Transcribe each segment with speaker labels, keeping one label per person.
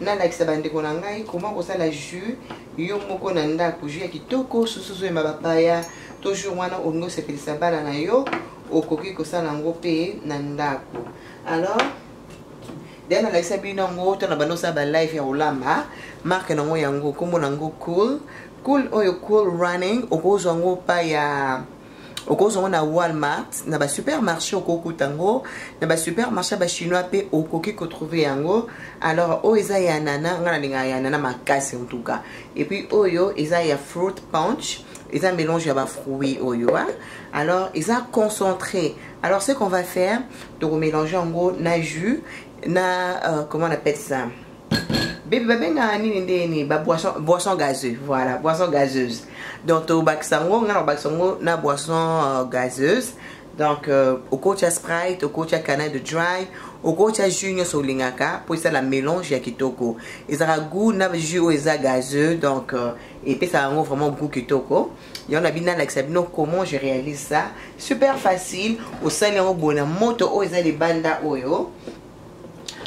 Speaker 1: nalakisa bandeko na ngai koma kosala jus yo moko na ndako jus ya kitoko susu ozoyema bapaya to jour wana olingi osepelisa bana na yo okoki kosala yango mpe na ndako alors deya nalakisa bino yango to na banda osala balive ya kolamba marke nango yango nkombo nango cool cool oyo cool running okozwa yango pa ya okozwa yango na walmart na basupermarché okokuta yango na basupermarché ya bachinois mpe okoki kotrouve yango alors oyo eza ya nana ngai nalingaka ya nana makasi en tout cas epuis oyo eza ya fruit punch eza mélange ya bafruit oyo a alors eza concentré alors ce qu'on va faire tokomélange yango na jus na euh, comment on appelle ça bebe babengaka nini nde nini baboisson gazeux voilà boisson gazeuse donc tobakisa yango ngai nakobakisa yango na boisson euh, gazeuse donc euh, okotya sprite okotya canal de dry okotya jus nyonso olingaka mpo esala mélange ya kitoko ezalaka goût na jus oyo eza gazeux donc euh, epesaka yango vraiment goût kitoko yango na bino nalakisa bino comment je réalise ça super facile osali yango boye na moto oyo eza libanda oyo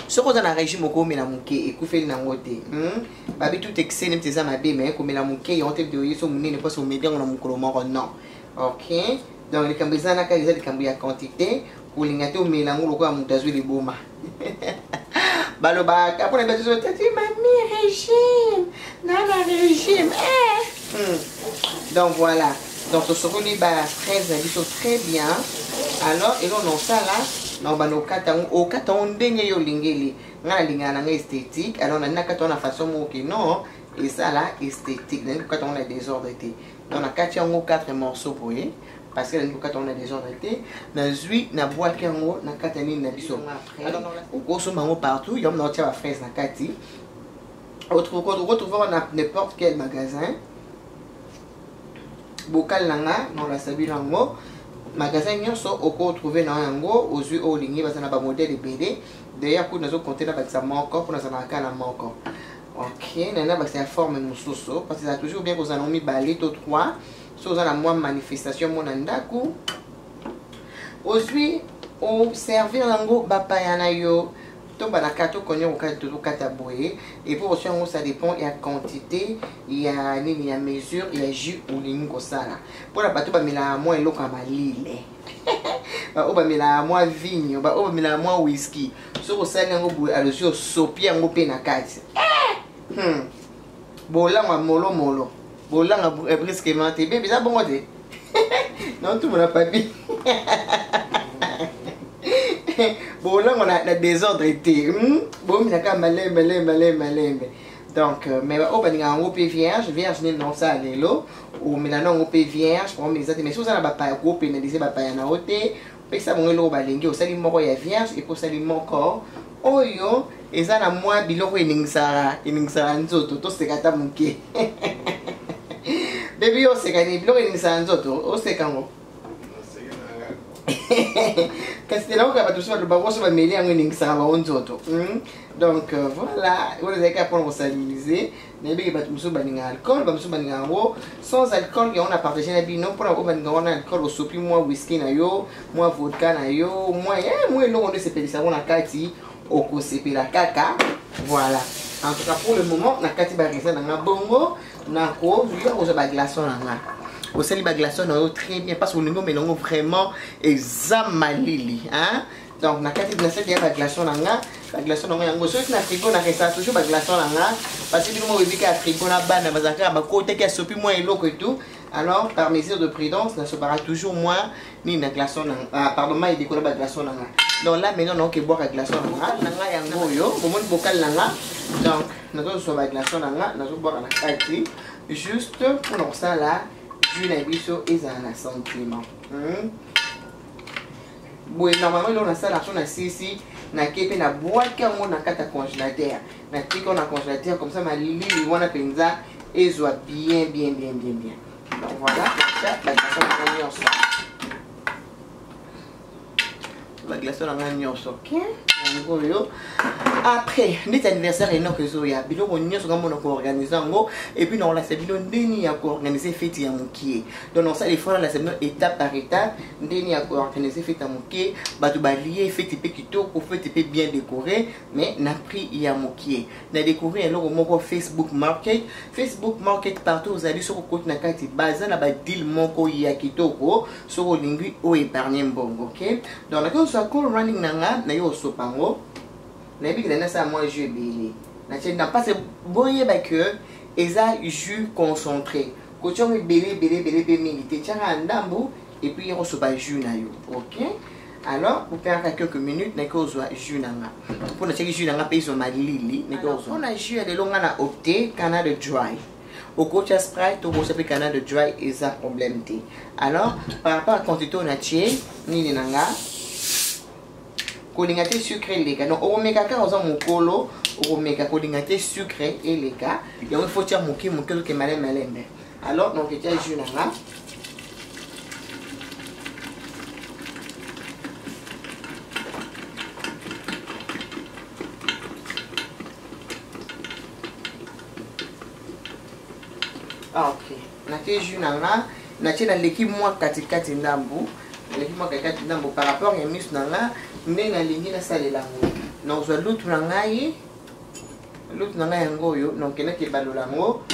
Speaker 1: soki oza na régime okomela moke ekufeli nango te hmm? babi tout excès neti eza mabe me komela moke yango te video yeso monene mposo omeli yango na mokolo moko non ok donc likambo eza na kaka eza likambo ya quantité kolinga te omela yango lokola moto azwi liboma balobaka mpona biso tati mami régime nana régime eh. hmm. donc voilà donc tosokoli ba fraise na biso très bien alors eloko na osala na obanda okata yango okata yango ndenge yo olingeli ngai nalingaka na ngai esthétique alors nani nakata yango na façon moko ke non esala esthétique nalingi kokata yango na désordre te donc nakati yango 4 morceau boye parce que nalingi kokata yango na désordre te nazwi nabwaki yango nakata nini na biso okosomba yango partout yango naotya ba fraise na kati okotrouvaka na n'importe quel magasin bokale na nga naolakisa bino yango magasin nyonso okotrouve na yango ozwi oyo olingi baza na bamodele ebele d'ailleurs kutu nazokonte nabakisa moko mpo nazalaka kaka na moko ok nani nabakisa ya forme mosusu parce eza toujours bien kozala nango mibale to 3 so oza na mwa manifestation mona ndako ozwi oservir yango bapaya na yo tobalaka tokoni okokaki tozokata boye epo osi yango ça dépend ya quantité ya nini ya mesure ya jus olingi kosala mpona bato bamelaka mwa eloko ya malile baoyo bamelaka mwa vigno baoyo bamelaka mwa whisky soki osali yango boye alosi osopi yango mpe na kati eh! hmm. Bolangwa molo molo. Bolanga eh, brusquement te. Bébé ça bongo te. Non tout mon papi. Bolangwa na, na désordre te. Hmm? Bomi na ka malembe lembe lembe lembe. Donc euh, mais au baninga yango pe vierge, vierge ni non ça lelo. Ou melana yango pe vierge, pour mes amis mais ça na ba pa ko pénaliser ba pa na ote. pesa bango eloko balingi osali moko ya vierge epo osali moko oyo eza na mwa biloko eningisaka eningisaka nzoto toseka ata moke bebi oseka nini biloko eningisaka nzoto oseka yango kasi te nakoka bato mosusu baloba koso bameli yango eningisaka bango nzoto hmm? donc euh, voilà oyo ezalaki apona kosalilize nayebi ke bato mosusu balingaka alcool bamosusu balingaka yango sans alcool yango na partage na bino mpona oyo balinga wana alcool osopi mwa whisky na yo mwa vodka na yo mwa eh, mwa eloko nde esepelisa yango na kati okosepela kaka voilà en tout cas pour le moment nakati baraisin na nga bongo nakoya kozwa baglaçon na nga osali baglaçon na yo très bien parce que olingi omela yango vraiment eza malili hein? donc nakati nasaki ya baglaçon na nga baglaçon na nga yango soki na frigo na resa toujours baglaçon na nga parce bino moko ebika ya frigo na bana bazalaka ya bakotaki asopi mwa eloko etout alors par mesure de prudence nasopaka toujours mwa nini na glaçon na ah, pardon mai edikola baglaçon na nga donc là maintenant naoki ebwaka glaçon na nga na nga yango oyo bomoni bokali na nga donc nazozwa baglaçon na nga nazobwaka na kati juste mpona kosala jus na biso ezala na sentiment hmm? boye normalement eloko nasala mpo nasisi nake mpe nabwaki yango na kati ya congélateur natiki wana congélateur comme ça malili wana mpenza ezwa bien bien bien bien bien donc voilà natia baglaso na ngai nyonso baglaso na ngai nyonso ok yango oyo après ndeti anniversaire enoko ezoya biloko nyonso ngamona koorganize yango epuis nakolakisa bino ndeni ya koorganize feti ya mokie donc nakosala effort na nasema étape par étape ndeni ya koorganize fete ya moke bato balie fete mpe kitoko fete mpe bien décoré mais na prix ya mokie na découvrir eloko moko facebook market facebook market partout ozali soki okoti na kati baza na badeal moko ya kitoko soki olingi oyo épargne mbongo ok donc nakoki kozwa call running na nga naye osopa yango nayebi kenda nasala mwa jeu ebele na mpasi boyeba que eza jus concentré kotya yango ebele ebele ebele mpe mingi te tyaka ya ndambo epuis yoko soba jus na yo ok alors bopengaka quelques minutes naki ozwa jus na nga mpo natyaki jus na nga mpe ezwa malili naki ozwa mpo na jus ya lelo nga na opte canal de dry okotya sprite okotya mpe canal de dry eza problème te alors par rapport ya quantité oyo natye nini na nga kolinga te sucre eleka donc okomeka kaka oza mokolo okomeka kolinga te sucre eleka yango ifo tya moke moke ozoke malembe malembe alors donc etya jus na nga Ah, ok. Nake jus na nga natie naleki mwa katikati ndambu naleki mwa katikati ndambu par rapport ya miso na nga nde nalingi nasalela yango nazwa lutu na ngai lutu na ngai yango oyo donc elaki ebalola yango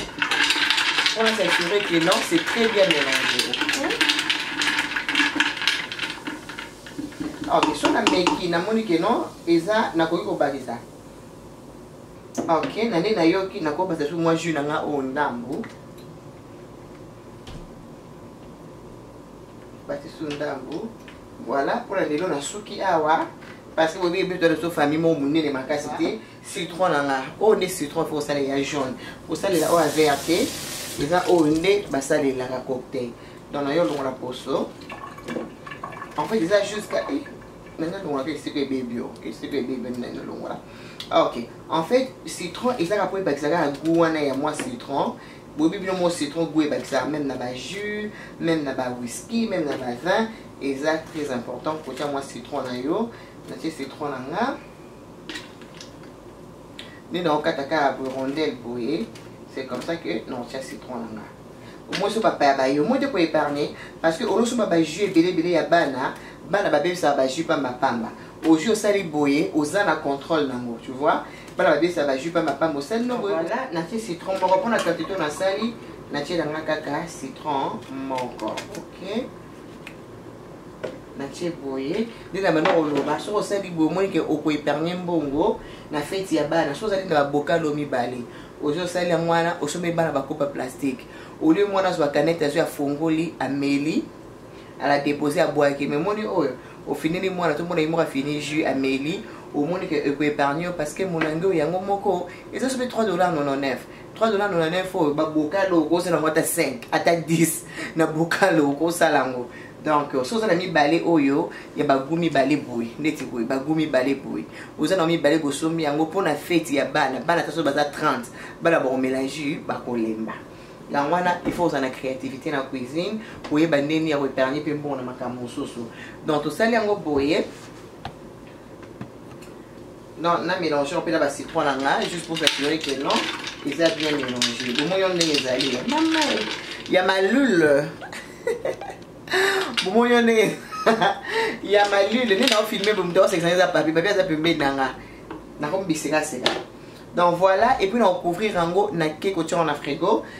Speaker 1: mpona s'assurer que non c'est très bien mélange ah, ok so nameki namoni ke non eza nakoki kobakisa ok na nde nayoki nakobasa su mwa jus na nga oyo ndambu batisu ndambu voilà mpona lelo nasuki awa parce que boyebi biso tozo famille moko monene makasi te citron na nga oyo nde citron fo kosala ya jaune kosalela oyo avea te eza oyo nde basalelaka cocktail donc nayo olongola poso en fait eza jusqu'à nanga longolaka esika ebebi o esika ebebi nde nanga longola ah, ok en fait citron ezaka mpo ebakisa kaka goût wana ya mwa citron boyebi bino mwa citron goût ebakisaka même na bajus même na bawhiski même na bavin eza très important kotya mwa citron na yo natie citron na nga nde naokata kaka boye rondel boye c'est comme ça que naotya citron na nga omoi so bapaya baye omoi te koepargne parce que olosoba bajus ebele ebele ya bana bana babebisaka bajus pamba pamba ozwi osali boye oza na contrôle nango tu vois bana babebisaka bajus pamba pamba osali no boye voilà natie citron moko mpona quantité nasali natiela nga kaka citron moko ok natie boye nde na banda koloba soki osali boye omoni ke okoepargne mbongo na feti ya bana soki ozali na babokalo mibale ozo osali yango wana osombeli bana bakopa plastique olie mwana azwa kanete azwi afongoli ameli ala depose abwaki me moni oyo ofineli mwana tomona ye moko afini jus ameli omoni ke ekoepargne yo parce que molangi oyo yango moko eza soki 3 dollar 99 3 dollar 99 oyo babokalo okosala yango ata 5 ata 10 na bokalo okosala yango donc soki oza na mibale oyo ya bagu mibale boye neti boye bagu mibale boye oza na mibale bosombi yango mpo na feti ya bana bana ta soki baza 30 bana bakomelange bakolemba yango wana il faut ozala na créativité na cuisine koyeba ndeni ya koepargne mpe mbongo na makambo mosusu donc tosali yango boye Non, na mélange on peut na ba citron na nga juste pour s'assurer que non, ils a bien mélangé. Bon moi on est ezali. Maman, il y a ma lule. Bon moi on est il y a ma lule. Ni na filmer bon toi c'est ça papier, papier ça peut mettre nga. Na comme biseka c'est là. Donc voilà et puis on couvrir en gros na keko en frigo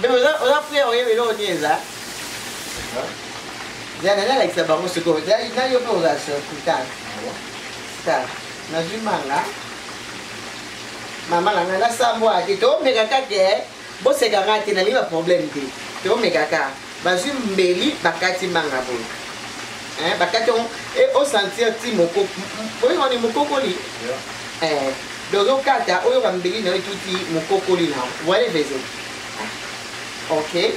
Speaker 1: Mais oza prière oyebi eloko nini eza zana nalakisa bango sikoyo nayo mpe oza surpris tala tala nazwi manga mama na ngai nasambwa te tomeka kaka bosekanga te nalingi baproblème te tomeka kaka bazwi mbeli bakati manga boye eh, bakati yango e eh, osentir ti oyokani mokokoli eh, donc okata oyoka mbeli na yo etuti mokokoli na yango voile vese ah, ok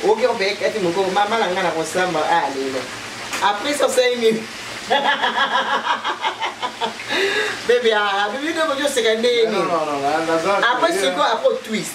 Speaker 1: oke ope kati mokoko mama na ngai na kosamba a ah, lelo après ça osali nini bebe ah, bebe nde okoki oseka ndenge nini après sikoyo après twist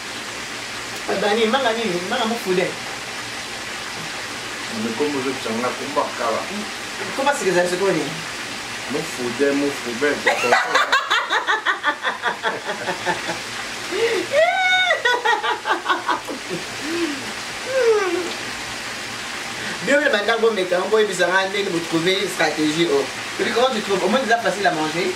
Speaker 1: Abani manga nini? Manga mufude. Mukombo zo changa kumba kala. Kumba sikeza sikoni. Mufude mufude kwa kwa. Bio le banda go meka ngo ebisa nga ndenge bo trouver stratégie oh. Tu comment tu trouves? Au moins c'est facile à manger.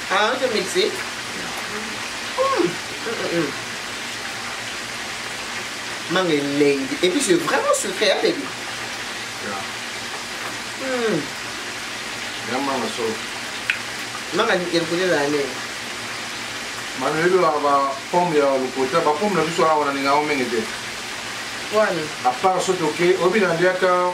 Speaker 1: Ah, on te mixe. Mmh. Mmh, mmh. Mangue elengi. Et puis c'est vraiment sucré, hein, baby? Yeah. Mmh. Yeah, mama, so. Manga ni kelkule la ne. Mano yebi ba ba pomme ya lokota, ba pomme na biso awa na ninga omenge te. Wani. À part soki oke, obi na liaka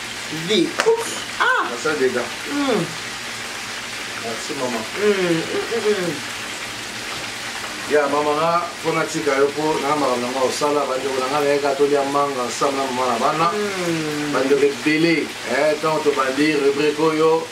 Speaker 1: vie ah ça déjà mm. merci maman mm. Mm. ya mama nga mpo natika yo mpo na makambo na nga osala bandeko na nga nayeka tolia manga ensemble na mama na bana bandeko ebele ntango tobandi rubrike oyo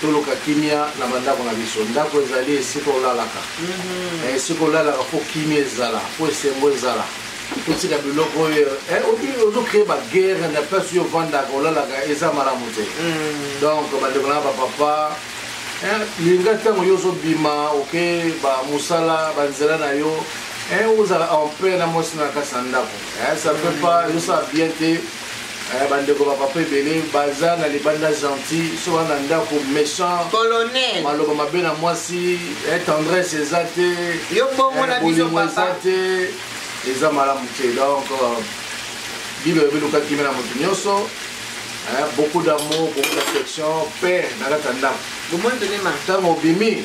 Speaker 1: Toluka kimia na bandako na biso. Ndako ezali esika olalaka. Eh, esika olalaka mpo kimia ezala, mpo esengo ezala.
Speaker 2: Totika biloko oyo eh, obi- ozocree baguerre na place oyo ovandaka olalaka eza malamu te. Donc bandeko na bapapa eh, linga ntango yo ozobima oke bamosala banzela na yo eh, ozala en paix na mwasi na kati na ndako. Eh, ça ne peut pas ezosala bien te. Eh, bandeko ba papa ebele baza na libanda gentil so wana ndako méchant colonel maloba
Speaker 1: mabe na mwasi
Speaker 2: eh, tendresse eza te yo bongo na
Speaker 1: eh, biso eza te eza
Speaker 2: malamu te donc euh, bino oyebi luka kimia na moto nyonso beaucoup d'amour beaucoup d'affection mpe na kati ya ndako ntango obimi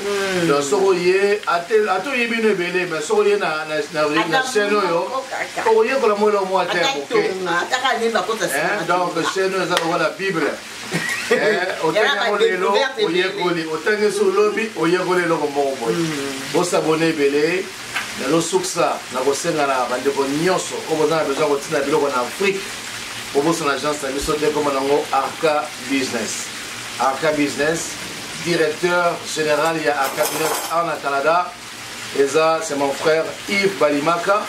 Speaker 2: Hmm. donc soki oye ata oye bino ebele mai soki oye na chaîne oyo okoyekola mwa eloko mwa te donc chaîne oyo eza lokola bible otangiango lelo oyekoli otangi so olobi oyekoli eloko moko boye hmm. osabone ebele nazosukisa na kosenga na bandeko nyonso oyo boza na besoin kotina biloko na afrique obosana agence na biso te ekoma nango arca business arca business Directeur général ya Academy en Canada eza c'est mon frère Yves Balimaka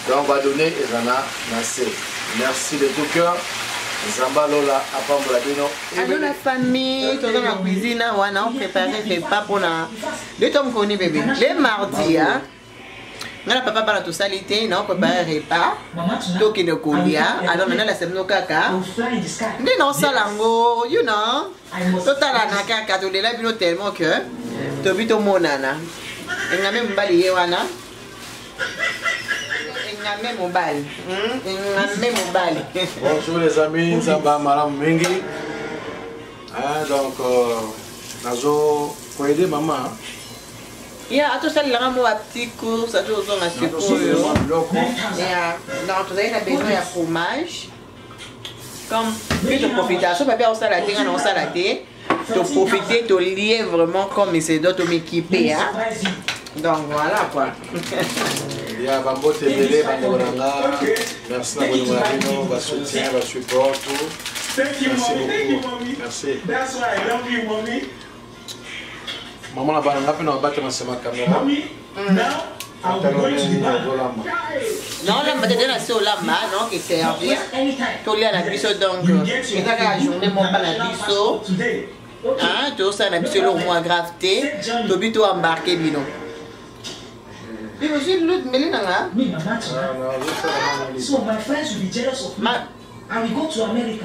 Speaker 2: donc ba donner eza na na se. Merci de tout cœur. Zamba Lola apambola bino. Ado la
Speaker 1: famille, toza na cuisine wana on prépare repas pona. Nde tomkoni bébé. Le mardi hein. nga na papa bana tosali te nao prépare repas tokende kolia alors nana lasa bino kaka nde naosala yango you know totalana kaka tolela bino tellement que tobi tomonana engame mobali ye wana engame mobali hmm? engame mobali bonjour les amis
Speaker 2: nzamba malamu mingi donc euh, nazo koyede mama ya
Speaker 1: atosalelaka mwa petit cours ati ozonga sikoyo ya donc tozali na besoin ya fromage comme mpe toprofita so babi akosala te nga na kosala te toprofite tolie vraiment comme ese do tomekipe ya donc voilà quoi
Speaker 2: ya bambote ebele bandeko na nga merci na bolingo na bino basoutien basupport tout merci beaucoup merci Maman na bana ngape na babate na sema kamera.
Speaker 1: naolamba te tena se olamba naoke servir tolia na biso donc eza kaka journée moka na biso tosala na biso eloko mwa grave te tobi to embarke bino Puis aussi, l'autre, mais les nanas. Oui, maman, tu vois.
Speaker 3: So, my friends will be jealous of me. And we go to America.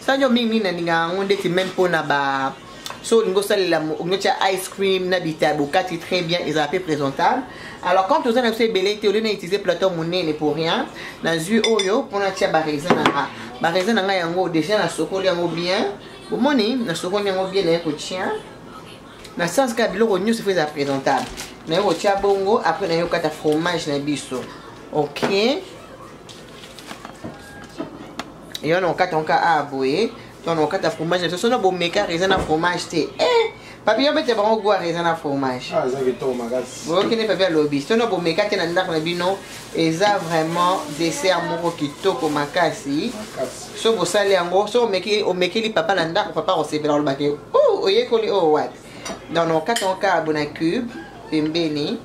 Speaker 1: sanjo mingi mingi nalingaka yango ndeti meme mpona ba so olingi osalela otia ice cream na bita bokati très bien ezala mpe présentable alors quand toza na biso ebele te olie na utiliser plateau monene pour rien nazwi oyo mpo natia baraisin na nga baraisin na nga yango déjà nasokoli yango bien bomoni nasokoli yango bien naye kotia na sens kaka biloko nyonso fo eza présentable naye kotia bongo après naye kokata fromage na biso ok yo na okata nka a boye to na okata fromage na biso na bomekaka eza na fromage te eh, papi yo bete bango gwara eza na fromage
Speaker 2: ah, okende papi alobi
Speaker 1: to na bomeka te na ndako na bino eza vraiment dessert moko kitoko makasi so bosali yango so omekeli papa na ndako papa akosepela olobaki oh, oyekoli oyo oh, wapi donc na okata nka abona cube pembeni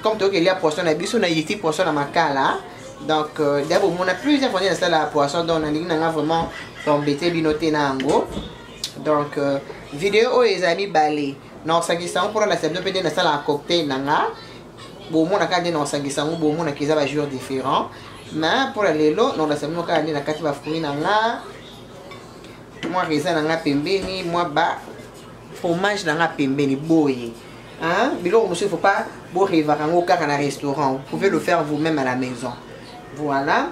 Speaker 1: comme toyoki elia poisson na biso na yeti poisson na makala donc euh, deya bomona plusieurs fois nde nasala poisson donc nalingi nanga vraiment tombete bino te na yango donc euh, video oyo ezala mibale naosangisa yango mpona lasela bino mpe nde nasalaka cocktail na nga bomona kaka nde naosangisa yango bomonaka eza bajour différent mais mpo na lelo naolasela bino kaka nde na kati bafruit na nga mwa raisin na nga pembeni mwa ba fromage na nga pembeni boye hein? biloko mosusu il faut pas borevaka yango kaka na restaurant vous pouvez le faire vous-même à la maison voilà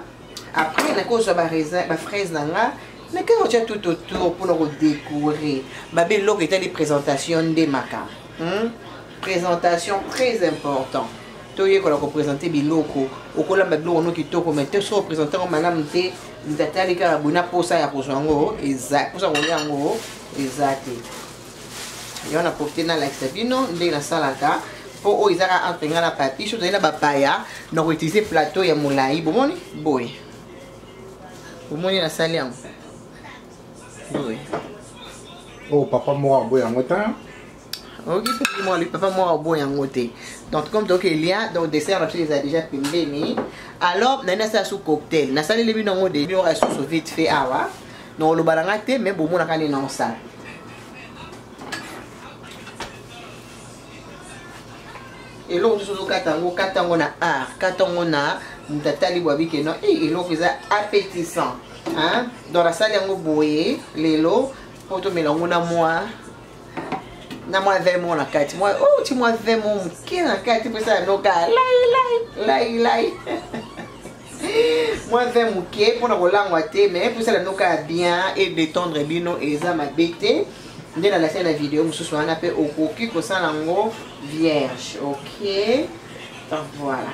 Speaker 1: après nakozwa bafraise na nga meka otya tout autour mpona kodécore babe eloko etali présentation nde maka hmm? présentation très important toyekola kopresente biloko okolamba biloko no kitoko mai te soki opresente yango malamu te ntatali kaka boye na mposa ya kozwa yango eza mposa kolia yango eza te yango na profite nalakisa bino ndenge nasalaka mpo oyo oh, ezaka entre ngai na papi so tozali na bapaya na koutilize plateau ya molai bomoni boye bomoni nasali yango boye
Speaker 4: oyo oh, papa moko yango yango ta oyoki
Speaker 1: soki mwa lipapa mwa obo yango te donc comme toyoki elia donc dessert na biso eza déjà pembeni alors nani nasala su cocktail nasaleli bino yango de biora susu vite fait awa donc oloba na nga te mais bomonaka nini naosala eloko mosusu ozokata yango kata yango na art kata yango na moto atali bwabike no e eloko eza appétissant donc nasali yango boye lelo mpo tomela yango na mwa na mwa vemo na kati mwa oh, ti mwa vemo moke na kati mposa ya noka lailai lailai mwa vin moke mpona kolangwa te mai mposala noka ya bien e détendre bino eza mabe te nde nalasai na video mosusu wana mpe okoki kosala yango vierge ok donc voilà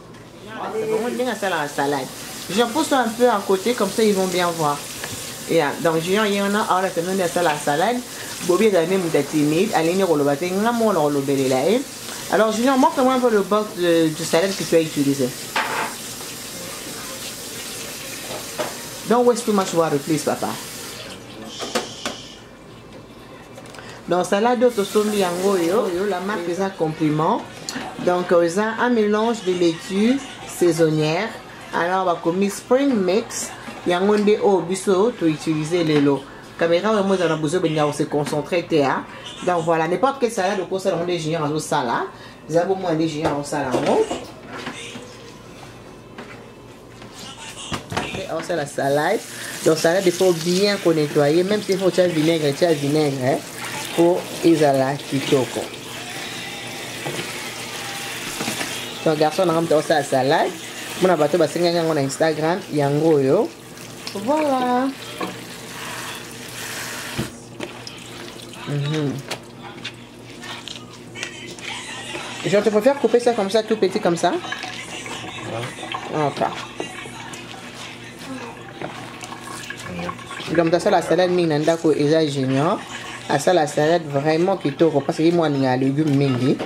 Speaker 1: Bongo ndenge asalaka salade. Jean pousse un peu à côté comme ça ils vont bien voir. Yeah, donc Junior ye wana aola tano nde asala salade. Bobi ezali nde moto ya timide, alingi nde koloba te nga moko nakolobelela ye. Eh? Alors Junior, montre-moi un peu le box de, de salade que tu as utilisé. Don't waste too much water, please, papa. donc salade oyo tosombi yango oyo oyo la marque eza compliment donc euh, eza un mélange de laitue saisonnière alors bakomi spring mix yango nde oyo biso toutilize lelo caméra oyo yango eza na besoin obenga kose concentre te a donc voilà n'importe quelle salade okosala yango nde junior azosala eza bomoi nde junior azosala yango ça la salade donc salade il faut bien qu'on nettoyer même s'il faut tia vinaigre tia vinaigre hein, mpo ezala kitoko donc garçon nanga moto akosala salade mona bato basengaki yango na instagram yango oyo voilà mm -hmm. Je te préfère couper ça comme ça, tout petit comme ça. Ok. Donc, dans ça, la salade ming nandako eza junior. À ça, la salade vraiment kitoko. Parce que moi, il y a légumes mingi.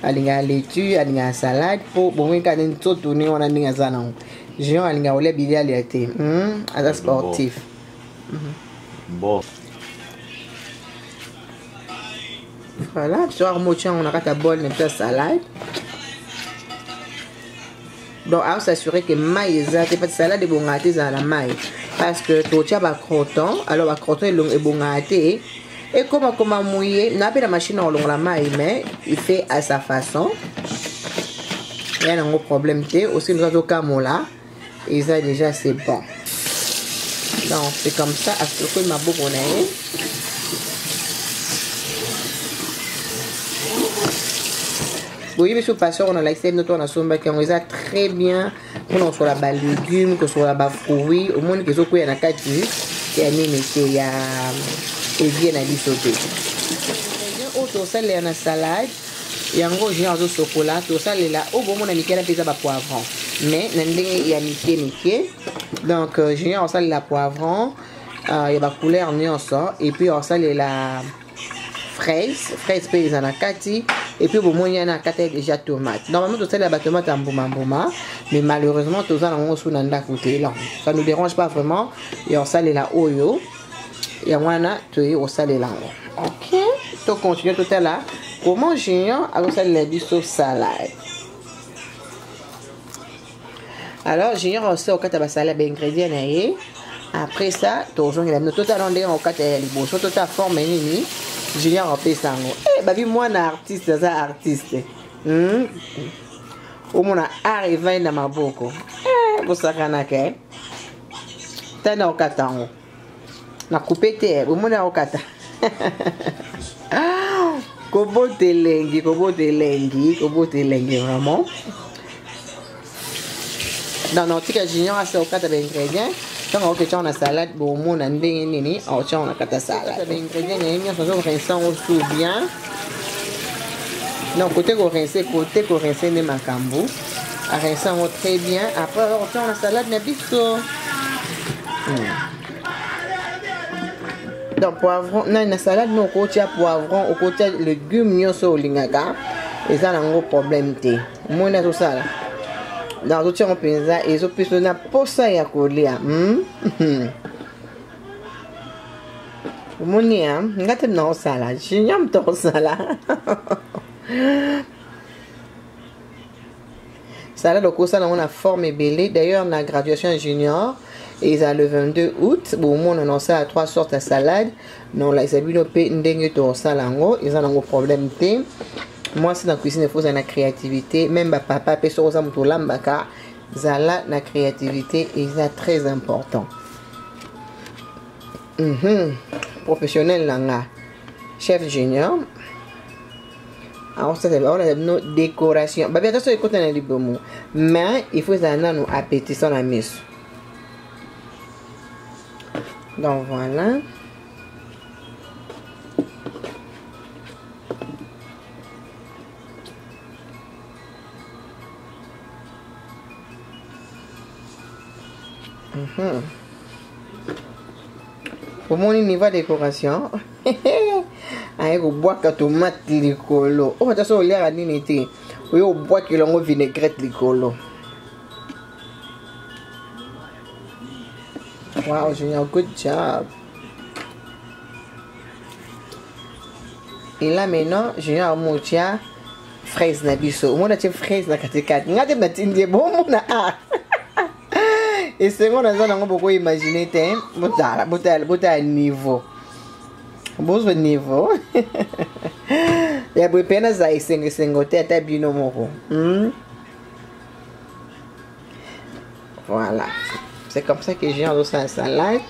Speaker 1: alinga laitue alinga salade mpo bongo kaka nde nzoto ndenge wana ndenge aza nango géant alinga kolia bilia lia te aza sportif
Speaker 2: bon.
Speaker 1: voilà biso kaka moci yango na kati ya bol na biso ya salade donc aosassurer ke mai eza te pati salade ebongaka te ezala na mai parce que totya bacroton alors bacroton ebongaka te ekomakoma moye na mpe na mashine ya kolongola mai mais il fait à sa façon ya nango problème te osi mozo azokamola eza deja c'est bon donc c'est comme ça asokoi maboko na ye boyebi so pasteur na lakisa bino to nasombaki yango eza très bien mpona kosola balegume kosola bafruit omoni ke ezokweya na kati ya nini te ya evie na biso te oyo tosalela na salade yango junior azosokola tosalela oyo bomona mike na mpe eza bapoivron mais na ndenge ya mike mike donc euh, junior osalela poivron euh, ya bacouleur nyonso epuis osalela fraise fraise mpe eza na kati epuis bomoni yana akataki déjà tomate normalement tosalela batomate ya mbumambuma mais malheureusement toza na yango so na ndako te donc ça nous dérange pas vraiment ya osalela oyo yango wana toyei kosalela yango ok to continue totala comment junior akosalela biso salade alors junior osi okata basala baingrédient na ye après ça tozongela bino totala ndenge okata ya liboso totala forme nini junior apesa yango e eh, babi mwana artiste aza artiste hmm? omona art evai na maboko eh, bosakanaka eh? tani nakokata yango na coupe te omoni nakokata kobota elengi kobota elengi kobota elengi vraiment donc nakotika junior asi okata baingredient ntango aoke tyango na salade bomona ndenge nini aotyango na kata salade baingredient na ye nyonso azokorense yango su bien non kote korense kote korense nde makambo arense yango très bien après okotia na salade na biso hmm. donc poivron nani na salade no okotia poivron okotia legume nyonso olingaka eza nango problème te omoni azosala donc azotia yango mpenza ezopesa na mposa ya kolia hmm? omoni ya nga te nakosala junior moto akosala sala lokosa nango na forme ebele d'ailleurs na graduation junior eza le 22 août bomona na osala trois sortes ya salade na olakisa bino mpe ndenge tokosala yango eza nango problème te mwasi na cuisine efo ozala na créativité meme bapapa mpe soki oza moto olambaka zala na créativité eza très important mm -hmm. professionnel na nga chef junior aosalisa aolakisa bino décoration babi ata soki ekota na libumu mais il faut ezala nanu appétissant na miso donc voilà Mm-hmm. omoni niveau décoration aye kobwaka tomate likolo oyo ata so oliaka nini te oye obwakela yango vinaigrette likolo wow junior good job et là maintenant junior amotia fraise na biso omona tie fraise na katikati ngai te natindi ye bomona a esengo naza nango bokoimagine te botala botala botala niveau bozwa niveau ya boye mpe naza esengo esengo te ata bino moko hmm? voilà c'est comme ça que jean azosala salade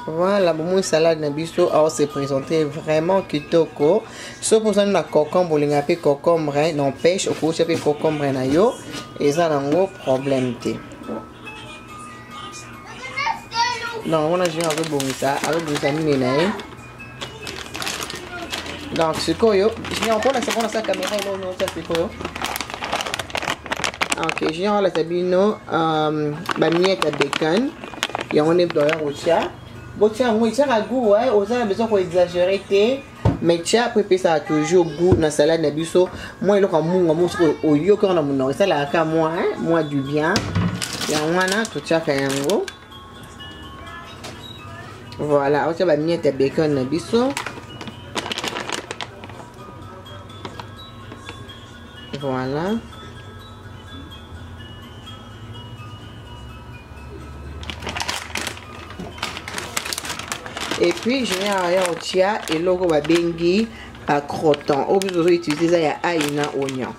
Speaker 1: voilà bomoni salade na biso ao se présente vraiment kitoko soki ozali na cocombre olinga mpe cocombre n'empêche okousa mpe cocombre na yo eza nango problème te donc yango na jeu azobongisa azobongisa nini na ye donc sikoyo junior okolakisa mpona sa kamera eloo nyonso sikoyo ok junior alakisa bino um, bamiete ya bacon yango nde doya kotya botya yango etyaka gout eh? oza na besoin koexagere te mais tya mpo epesaka toujours gout na salade na biso mwa eloko ya munga mo soki oyoki yango na monoko esalaka ka mwa mwa du bien yango wana totyaka yango voilà otia bamiete ya bacon na biso voilà et puis je viens à otia eloko babengi à crotton oyo biso tozo utilise eza ya ai na oignon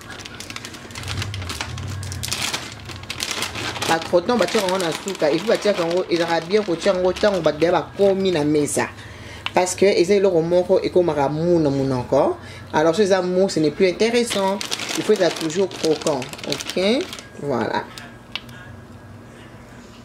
Speaker 1: à crotton batiaka yango na suka epuis batiaka yango ezalaka bien kotia yango ntango bato deya bakomi na mesa parce que eza eloko moko ekomaka mou na monoko alors so eza mou ce n'est plus intéressant il faut ezala toujours croquant ok voilà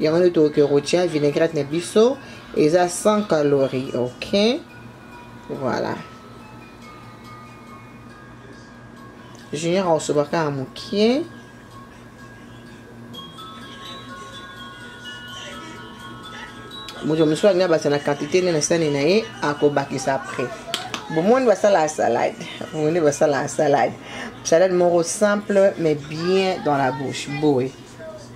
Speaker 1: yango nde tokoki kotia vinaigrette na biso eza 100 calorie ok voilà junior akosobaka ya mokie moto mosusu alingi abakisa na quantité nde na sani na ye akobakisa après bomoni basalaka salade bomoni basalaka salade salade moko simple mais bien dans la bouche boye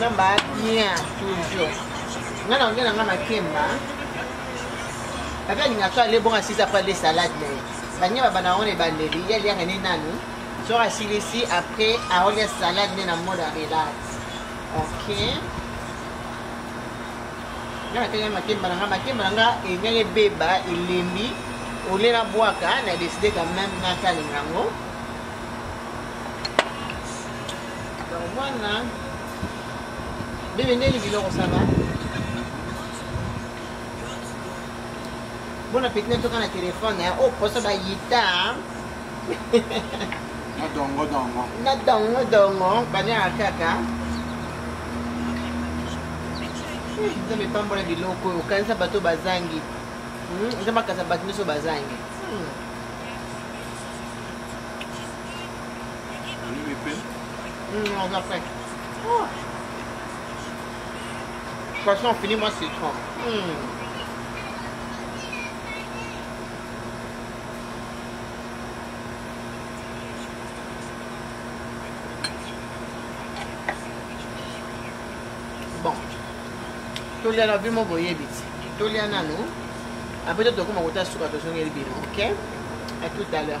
Speaker 1: namba bien toujours nga na nge na nga makemba ape alinga so ale bonga sisa po ale salade na ye banye baba na yango na ebandeli ye aliaka ne nanu soki asilisi après aolia salade nde na mode ya relax ok nga natanga makemba na nga makemba na nga enyaki ebeba elembi olie na bwaka na décide quand même natalinga yango mwana bebe ndeni biloko saba bona peti natoka na telefone o oh, poso bayita na dongo dongo na dongo dongo baniaka kaka eh, nzambe epambola biloko oyo okanisa bato bazangi hmm, eza makasa bato nyonso bazangi hmm. hmm, oza prêt oh. poisson fini moi citron mm. bon tolia na bimo boyebi ti tolia nanu apres tokoma kota suka tozongeli bino ok à tout à l'heure